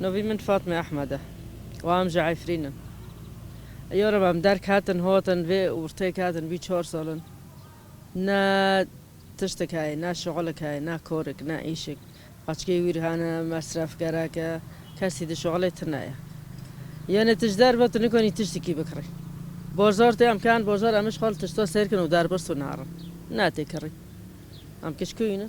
Navê min Fatme Ehmed e û em ji Efrîn in. Ya Reb em derketin hatin vê ortê ketin bî çar sal in. Ne tiştek heye, ne şixulek heye, ne karek, ne îşek. Qeçkê wîr hene, mesrefgerek e, kesî di şixulê tune ye. Yanê tu ji derve tu nikanî tiştekî bikirî. Barzar tê em ken barzar em îşxal tişta sêrkin û derbirs û narin. Ne tê kirî. Em kişkûyî ne.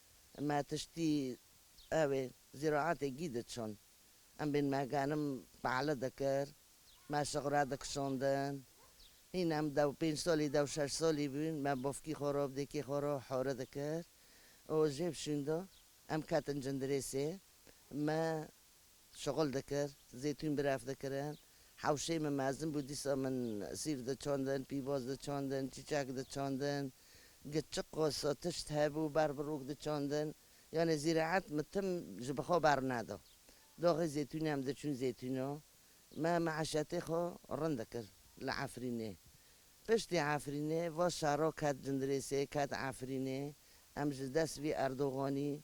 Me tiştî ewê zîraetê gî diçûn. Em bên me genim pale dikir. Me şixure dikişandin. Hîn em dew pênc salî dew şeş salî bûn. Me bavkî xwe re dêkê xwe re hore dikir. Û jê şûnda em ketin cindirêsê. Me Şixul dikir, zeytûn bi ref dikirin. Hewşeyê min mezin bû, dîsa min sîv diçandin, pîvoz diçandin, çîçek diçandin, gê çi qosa tişt hebû ber bi rûk diçandin. Yanê zîraet min tim ji bi xwe berneda. Daxê zeytûnê em diçûn zeytûna. Me meîşetê xwe rind dikir li Efrînê. Piştî Efrînê va şaro ket Cindirêsê, ket Efrînê. Em ji dest vî Erdoganî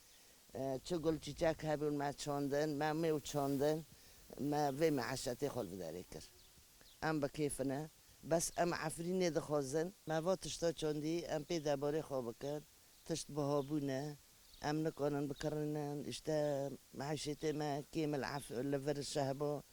Çi gul çîçek hebûn me çandin, me mêw çandin, me vê mîeşetê xwe li bi derê kir. Em bi kêf ne, bes em Efrînê dixwazin. Me va tişta çandî, em pê debarê xwe bikin, tişt biha bûne, em nikarin bikirînin, îşte mîeşetê me kêm li vir şehba